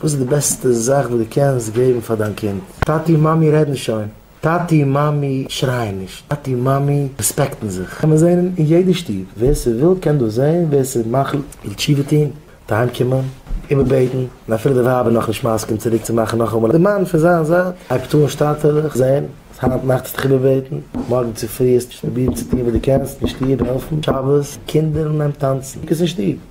וואס איז די בעסטע זאך וואס דו קענסט געבן פאר דיין קינד? טאטי און מאמי רעדן שוין, טאטי און מאמי שרייען נישט, טאטי און מאמי רעספעקטן זיך, קען מען זען אין יעדע שטוב, ווער ס'וויל קען דאס זען, ווער ס'איז מחליט זאל תשובה טון, זאל אהיים קומען, איבערבעטן, און אפילו די ווייב איז נאכנישט מסכים צוריק צו מאכן נאכאמאל, די מאן פון זיין זייט הייבט אן שטאטעלעך זען אז היינט נאכט האסטו דיך איבערבעטן, מארגן צופרי האסטו נישט פרובירט צו טון וואס דו קענסט אין שטוב, העלפן שבת, קינדער נעמט טאנצן, קוק עס אין שטוב.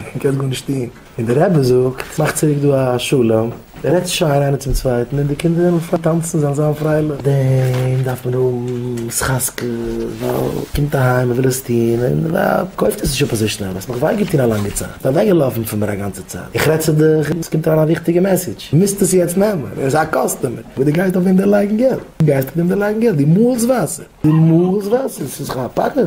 און קענסט גארנישט טון. און דער רבי זאגט, מאך צוריק דא א שלום, רעדטס שיין איינער צום צווייטן, און די קינדער וועלן אנפאנגען טאנצן, זיין זיין פרייליך. דעם דארף מען האבן ס'חזקה, ווייל ער קומט אהיים, ער וויל עס טון, און די ווייב קויפט עס נישט אפ אזוי שנעל, האסט מיך וויי געטון א לאנגע צייט, איך בין אוועקגעלאפן פון מיר א גאנצע צייט, איך רעד צו דיך, און עס קומט אריין א וויכטיגע מעסעדזש, דו מוזט עס יעצט נעמען, ער איז א קאסטומער, אבער דו גייסט אויף דעם דערלייגן געלט, דו גייסט אויף דעם דערלייגן געלט, דו מאלסט וואסער, דו מאלסט וואסער, עס איז זיך א פחד.